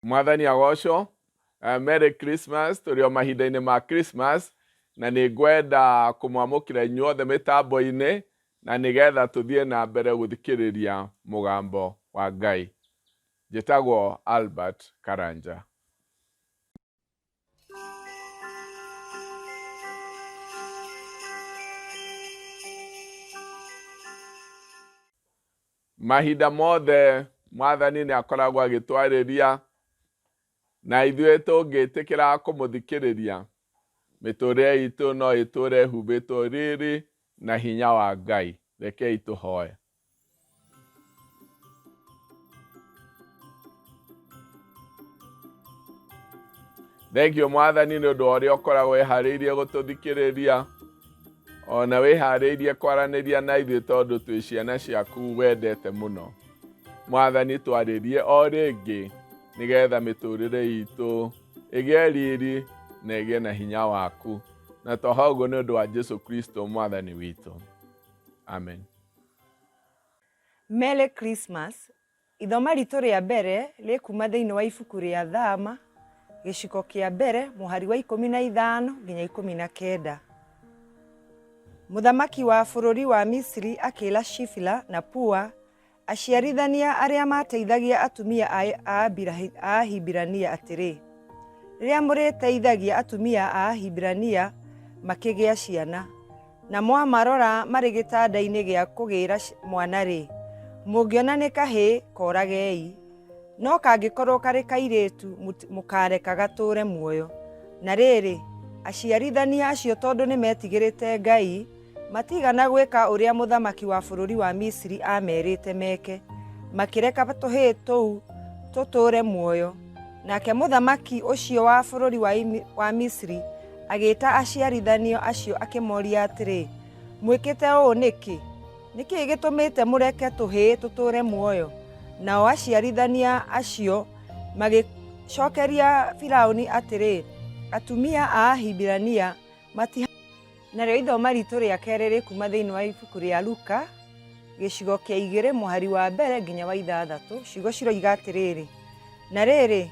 Mwathani agocwo. Uh, Merry Christmas tũrĩ o mahinda-inĩ ma Christmas na nĩ ngwenda kũmwamũkĩra inyuothe mĩtambo-inĩ na nĩgetha tũthiĩ na mbere gũthikĩrĩria mũgambo wa Ngai. Njĩtagwo Albert Karanja. mahinda mothe mwathani nĩ akoragwo agĩtwarĩria na ithuĩ tũngĩtĩkĩra kũmũthikĩrĩria mĩtũrĩre itũ no ĩtũre humbĩtwo rĩrĩ na hinya wa ngai rekei tũhoe thengio mwathani nĩ ũndũ wa ũrĩa ũkoragwo wĩharĩirie gũtũthikĩrĩria ona wĩharĩirie kwaranĩria na ithuĩ tondũ twĩ ciana ciaku wendete mũno mwathani twarĩrie o rĩngĩ nĩgetha mĩtũrĩre itũ ĩgĩe riri na ĩgĩe na hinya waku na toha ũguo nĩ ũndũ wa jesu kristo mwathani witũ amen Merry Christmas. Ithoma ritũ rĩa mbere rĩkuma thĩinĩ wa ibuku rĩa Thama, gĩciko kĩa mbere, mũhari wa ikũmi na ithano nginya ikũmi na kenda. Mũthamaki wa bũrũri wa Misiri akĩra Shifila na Pua, aciarithania arĩa mateithagia atumia a Ahibirania atĩrĩ, Rĩrĩa mũrĩteithagia atumia a Ahibirania makĩgĩa ciana, Na mwamarora marĩ gĩtanda-inĩ gĩa kũgĩĩra mwana-rĩ, mũngĩona nĩ kahĩĩ, kooragei. No kangĩkorwo karĩ kairĩĩtu, mũkaareka gatũũre muoyo. Na rĩĩrĩ, aciarithania acio tondũ nĩmeetigĩrĩte Ngai, matiigana gwĩka ũrĩa mũthamaki wa bũrũri wa Misiri aameerĩĩte meeke, makĩreka tũhĩĩ tũu tũtũũre muoyo. Nake mũthamaki ũcio wa bũrũri wa, Imi- wa Misri agĩĩta aciarithanio acio akĩmoria atĩrĩ, mwĩkĩte ũũ nĩkĩ? Nĩkĩ gĩtũmĩte mũreke tũhĩĩ tũtũũre muoyo? Nao aciarithania acio magĩcokeria Firaũni atĩrĩ, atumia a Ahibirania mati Narĩo ithoma ritũ rĩa kerĩ rĩkuma thĩinĩ wa ibuku rĩa Luka gĩcigo kĩa igĩrĩ mũhari wa mbere nginya wa ithathatũ ciugo ciroiga atĩrĩrĩ na rĩrĩ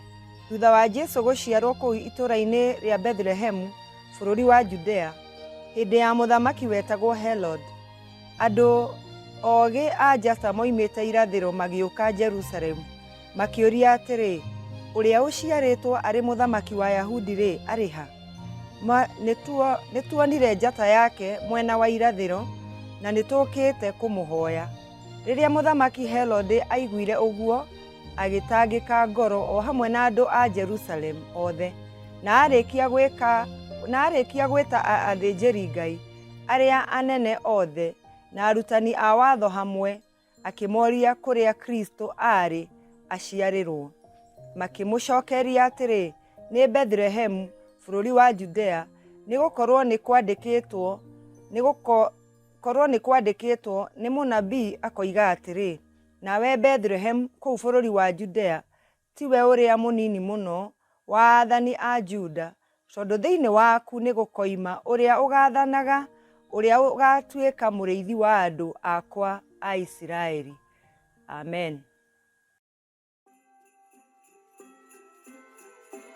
thutha wa Jesu gũciarwo kũu itũũra-inĩ rĩa Bethlehemu bũrũri wa Judea hĩndĩ ya mũthamaki wetagwo Herod andũ ogĩ a njata moimĩte irathĩro magĩũka Jerusalemu Makĩũria atĩrĩ, Ũrĩa ũciarĩtwo arĩ mũthamaki wa Ayahudi-rĩ, arĩ ha? Ma, nĩtuo, nĩtuonire njata yake mwena wa irathĩro, na nĩtũũkĩte kũmũhoya. Rĩrĩa mũthamaki Herode aiguire ũguo, agĩtangĩka ngoro o hamwe na andũ a Jerusalemu othe, na arĩkia gwĩka na arĩkia gwĩta a- athĩnjĩri Ngai arĩa anene othe na arutani a watho hamwe, Akĩmoria kũrĩa Kristo aarĩ aciarĩrwo. Makĩmũcokeria atĩrĩ, nĩ Bethlehemu bũrũri wa Judea, nĩ gũkorwo nĩ kwandĩkĩtwo nĩ gũkorwo nĩ kwandĩkĩtwo nĩ mũnabii akoiga atĩrĩ, nawe Bethlehemu kũu bũrũri wa Judea Tiwe ũrĩa mũnini mũno wa aathani a Juda, tondũ thĩinĩ waku nĩgũkoima ũrĩa ũgaathanaga, ũrĩa ũgaatuĩka mũrĩithi wa andũ akwa a Isiraeli. Amen.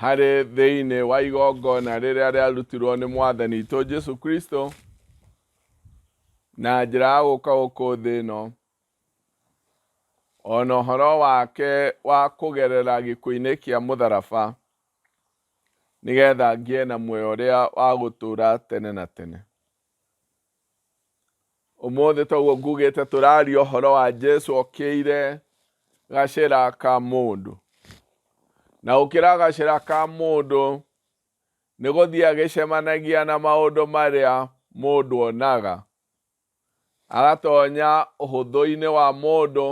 harĩ thĩinĩ wa igongona rĩrĩa rĩarutirwo nĩ mwathani itũ Jesu Kristo na njĩra ya gũka gũkũ thĩ ĩno o na ũhoro wake wa kũgerera gĩkuũ-inĩ kĩa mũtharaba nĩgetha ngĩe na muoyo ũrĩa wa gũtũra tene na tene. Ũmũthĩ toguo ngugĩte tũraria ũhoro wa Jesu okĩire gacĩra ka mũndũ. Na gũkĩra gacĩra ka mũndũ nĩ gũthiĩ agĩcemanagia na maũndũ marĩa mũndũ onaga. Agatonya ũhũthũ-inĩ wa mũndũ,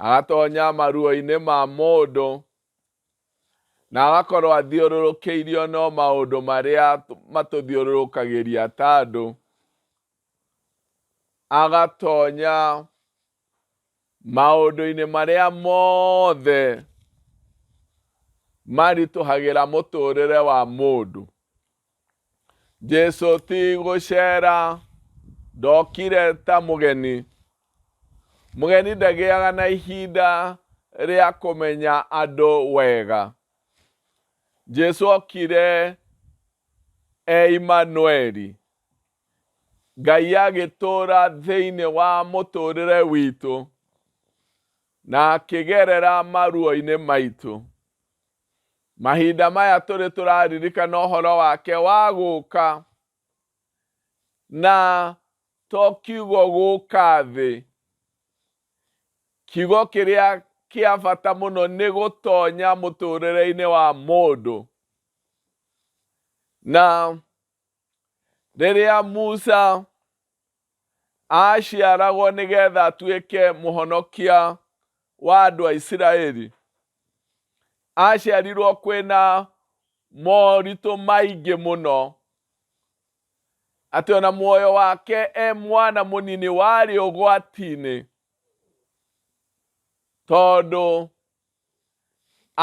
agatonya maruo-inĩ ma mũndũ, Na agakorwo athiũrũrũkĩirio no maũndũ marĩa matũthiũrũrũkagĩria ta andũ, agatonya maũndũ-inĩ marĩa mothe maritũhagĩra mũtũrĩre wa mũndũ. Jesu ti gũceera ndokire ta mũgeni. Mũgeni ndagĩaga na ihinda rĩa kũmenya andũ wega. Jesu okire e Imanueli. Ngai agĩtũũra thĩinĩ wa mũtũũrĩre witũ na akĩgerera maruo-inĩ maitũ. Mahinda maya tũrĩ tũraririkana ũhoro wake wa gũka. Na to kiugo gũka thĩ. Kiugo kĩrĩa kĩa bata mũno nĩ gũtonya mũtũrĩre-inĩ wa mũndũ. Na Rĩrĩa Musa aaciaragwo nĩ getha atuĩke mũhonokia wa andũ a Isiraeli, aaciarirwo kwĩna moritũ maingĩ mũno, atĩ ona muoyo wake e mwana mũnini warĩ ũgwati-inĩ, tondũ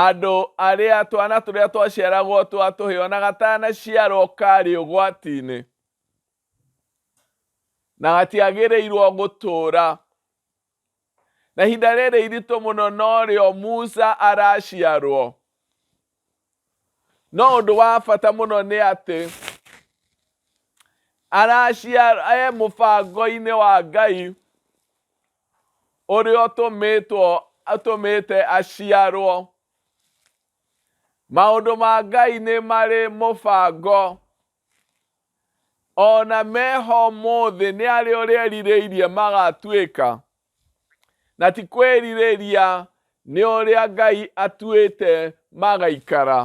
Andũ arĩa twana tũrĩa twaciaragwo twa tũhĩ ona gatanaciarwo karĩ ũgwati-inĩ na gatiagĩrĩirwo gũtũũra. Na ihinda rĩrĩ iritũ mũno norĩo Musa araciarwo. no ũndũ wa bata mũno nĩ atĩ araciara e mũbango-inĩ wa ngai ũrĩa ũtũmĩtwo atũmĩte aciarwo maũndũ ma ngai nĩ marĩ mũbango ona meho mũthĩ nĩ arĩa ũrĩa erirĩirie magatuĩka Na ti kwĩrirĩria nĩ ũrĩa Ngai atuĩte magaikara.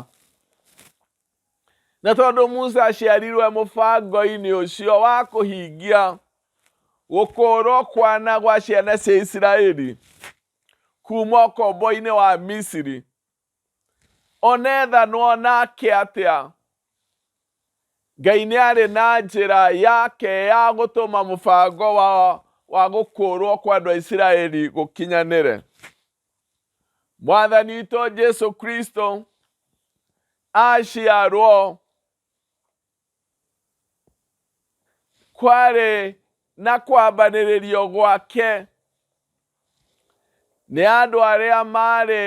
Na tondũ Musa aciarirwe mũbango-inĩ ũcio wa kũhingia gũkũũrwo kwana gwa ciana cia Isiraeli kuma ũkombo-inĩ wa Misiri, O na ethanwo nake atĩa, Ngai nĩ arĩ na njĩra yake ya gũtũma mũbango wa, wa gũkũũrwo kwa andũ a Isiraeli gũkinyanĩre. Mwathani witũ Jesu Kristo aciarwo Kwarĩ na kwambanĩrĩrio gwake, nĩ andũ arĩa marĩ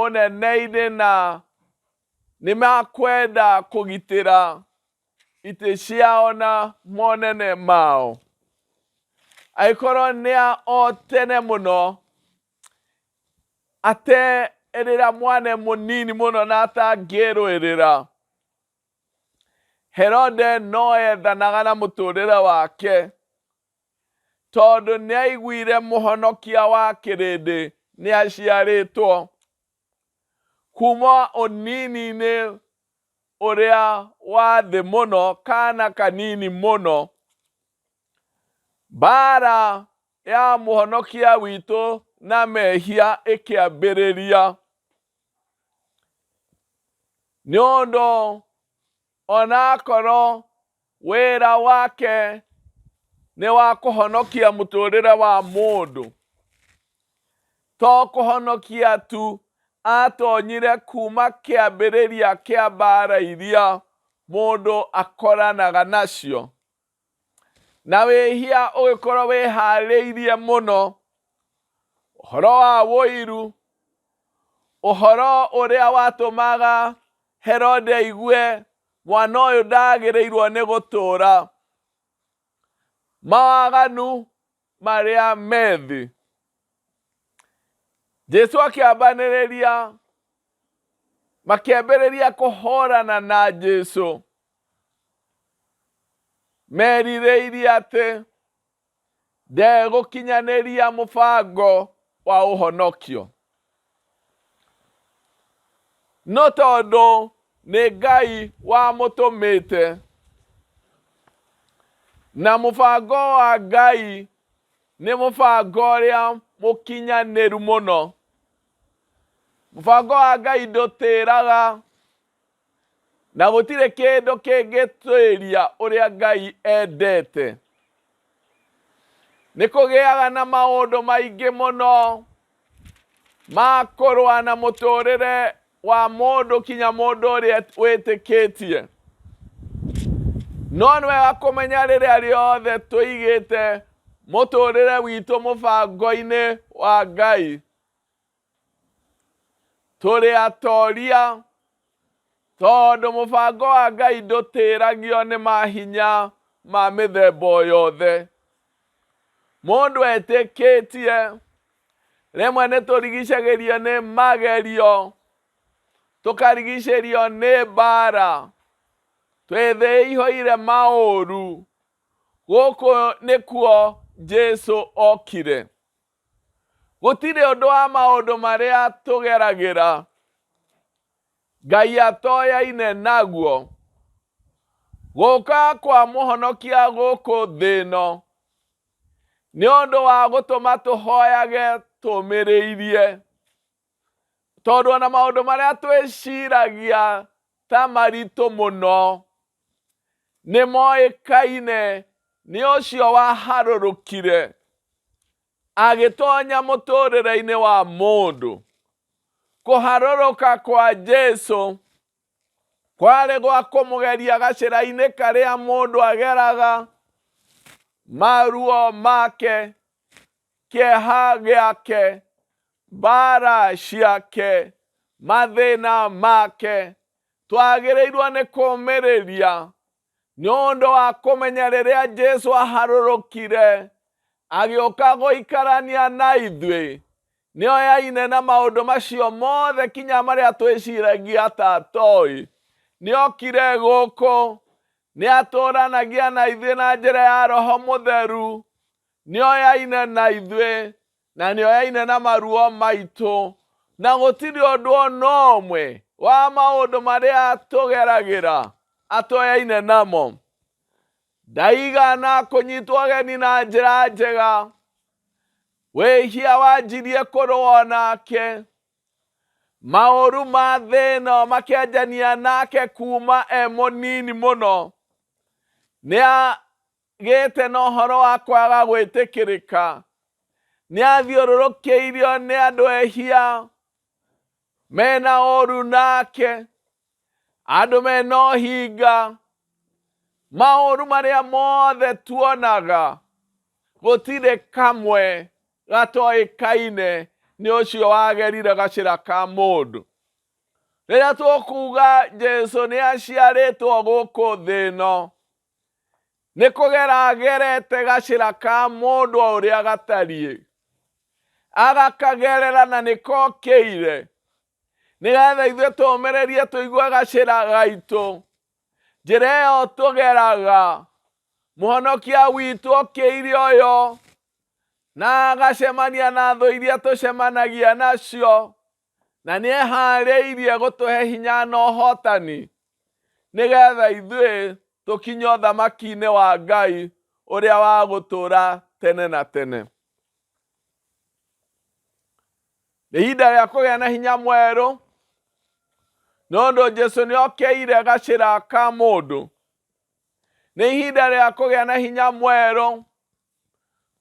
ũnene-inĩ na nĩ makwenda kũgitĩra itĩ ciao na monene mao. Agĩkorwo nĩ a o tene mũno, aterĩra mwana e mũnini mũno na atangĩĩrũĩrĩra. Herode no ethanaga na mũtũrĩre wake tondũ nĩ aiguire mũhonokia wa kĩrĩndĩ nĩ aciarĩtwo. Kuma ũnini-inĩ ũrĩa wa thĩ mũno kana kanini mũno, mbara ya mũhonokia witũ na mehia ĩkĩambĩrĩria. nĩ ũndũ onakorwo wĩra wake nĩ wa kũhonokia mũtũrĩre wa mũndũ to kũhonokia tu atonyire kuma kĩambĩrĩria kĩa mbara iria mũndũ akoranaga nacio na wĩhia ũgĩkorwo wĩharĩirie mũno ũhoro wa wũiru ũhoro ũrĩa watũmaga herode aigue mwana ũyũ ndagĩrĩirwo nĩ gũtũũra mawaganu marĩa me thĩ. Jesu akĩambanĩrĩria makĩambĩrĩria kũhorana na Jesu merirĩirie atĩ ndegũkinyanĩria mũbango wa ũhonokio. No tondũ nĩ Ngai wamũtũmĩte. Na mũbango wa Ngai nĩ mũbango ũrĩa mũkinyanĩru mũno. Mũbango wa Ngai ndũtĩraga Na gũtirĩ kĩndũ kĩngĩtuĩria ũrĩa Ngai endete. Nĩ kũgĩaga na maũndũ maingĩ mũno ma kũrũa na mũtũrĩre wa mũndũ kinya mũndũ ũrĩa wĩtĩkĩtie no nĩ wega kũmenya rĩrĩa rĩothe tũigĩte mũtũrĩre witũ mũbango-inĩ wa ngai Tũrĩ atoria, tondũ mũbango wa Ngai ndũtĩragio nĩ mahinya ma mĩthemba o yothe. Mũndũ etĩkĩtie, rĩmwe nĩ tũrigicagĩrio nĩ magerio, tũkarigicĩrio nĩ mbara, twĩthĩihũire maũru, gũkũ nĩkuo Jesu okire. Gũtirĩ ũndũ wa maũndũ marĩa tũgeragĩra Ngai atoyaine naguo. Gũka kwa mũhonokia gũkũ thĩ ĩno nĩ ũndũ wa gũtũma tũhoyage tũmĩrĩirie. Tondũ ona maũndũ marĩa twĩciragia ta maritũ mũno nĩ moĩkaine nĩ ũcio waharũrũkire agĩtonya mũtũrĩre-inĩ wa mũndũ. Kũharũrũka kwa Jesu kwarĩ gwa kũmũgeria gacĩra-inĩ karĩa mũndũ ageraga maruo make kĩeha gĩake mbara ciake mathĩna make twagĩrĩirwo nĩ kũmĩrĩria Nĩ ũndũ wa kũmenya rĩrĩa Jesu aharũrũkire agĩũka gũikarania na ithuĩ, nĩ oyaine na maũndũ macio mothe kinya marĩa twĩciragia ta atoĩ. Nĩ okire gũkũ, nĩ atũranagia na ithuĩ na njĩra ya Roho Mũtheru, nĩ oyaine na ithuĩ, Na nĩ oyaine na maruo maitũ. Na gũtirĩ ũndũ o na ũmwe wa maũndũ marĩa tũgeragĩra atoyaine namo. Ndaigana kũnyitwo ageni na njĩra njega. Wĩhia wanjirie kũrũa o nake. Maũru ma thĩ ĩno makĩanjania nake kuuma e mũnini mũno. Nĩa Gĩte na ũhoro wa kwaga gwĩtĩkĩrĩka. Nĩathiũrũrũkĩirio nĩ andũ ehia mena ũru nake, andũ mena ũhinga. Maũru marĩa mothe tuonaga gũtirĩ kamwe gatoĩkaine nĩ ũcio wagerire gacĩra ka mũndũ. Rĩrĩa tũkuga Jesũ nĩaciarĩtwo gũkũ thĩ ĩno, nĩ kũgera agerete gacĩra ka mũndũ o ũrĩa gatariĩ agakagerera na nĩ kokĩire nĩgetha ithuĩ tũmĩrĩrie tũigue gacĩra gaitũ njĩra ĩyo tũgeraga mũhonokia witũ okĩire ũyũ na agacemania na thũ iria tũcemanagia nacio na nĩ eharĩirie gũtũhe hinya na ũhotani nĩ getha ithuĩ tũkinye ũthamaki-inĩ wa Ngai ũrĩa wa gũtũra tene na tene. Nĩ ihinda rĩa kũgĩa na hinya mwerũ nĩ ũndũ Jesu nĩ okeire gacĩra ka mũndũ. Nĩ ihinda rĩa kũgĩa na hinya mwerũ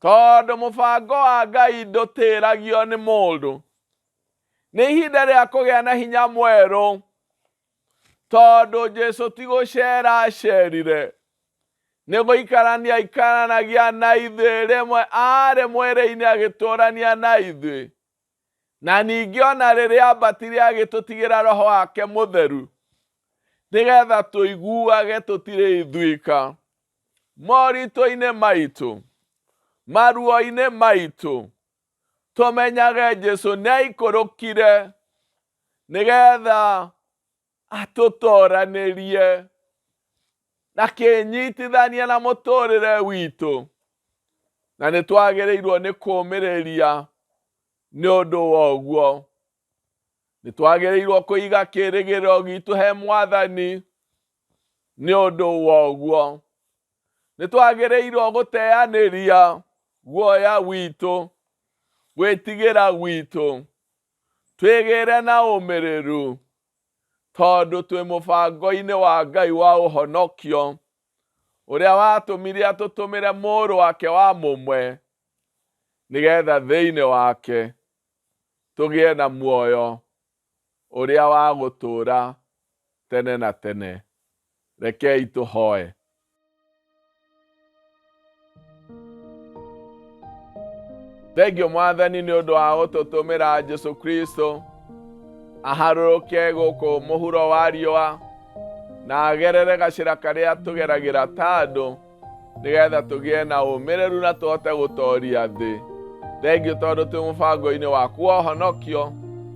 Tondũ mũbango wa Ngai ndũtĩragio nĩ mũndũ, nĩ ihinda rĩa kũgĩa na hinya mwerũ, tondũ Jesu ti gũceera acerire, nĩ gũikarania aikaranagia na ithuĩ, rĩmwe aarĩ mwĩrĩ-inĩ agĩtũrania na ithuĩ. Na ningĩ o na rĩrĩa aambatire agĩtũtigĩra roho wake mũtheru, nĩgetha tũiguage tũtirĩ ithuĩka moritũ-inĩ maitũ, maruo-inĩ maitũ, tũmenyage Jesu nĩ aikũrũkire nĩgetha atũtoranĩrie na kĩnyitithania na mũtũrĩre witũ na nĩ twagĩrĩirwo nĩ kũmĩrĩria nĩ ũndũ wa ũguo nĩ twagĩrĩirwo kũiga kĩrĩgĩrĩro gitũ he mwathani nĩ ũndũ wa ũguo nĩ twagĩrĩirwo gũteanĩria guoya witũ gwĩtigĩra gwitũ Twĩgĩĩre na ũmĩrĩru, tondũ twĩ mũbango-inĩ wa Ngai wa ũhonokio, ũrĩa watũmire atũtũmĩre Mũrũ wake wa mũmwe, nĩ geetha thĩinĩ wake tũgĩe na muoyo ũrĩa wa gũtũũra tene na tene. Reke itũhoe. Thengio mwathani nĩ ũndũ wa gũtũtũmĩra Jesu Kristo aharũrũke gũkũ mũhuro wa riũa na agerere gacĩra karĩa tũgeragĩra ta andũ nĩgetha tũgĩe na ũmĩrĩru na tũhote gũtooria thĩ thengiũ tondũ twĩ mũbango-inĩ wa kuohonokio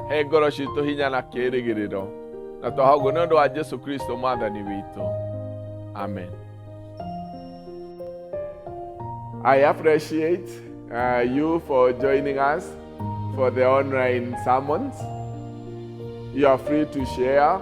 he ngoro citũ hinya na kĩĩrĩgĩrĩro na twahoguo nĩ ũndũ wa jesu kristo mwathani witũ amen I appreciate uh, you for joining us for the online sermons. You are free to share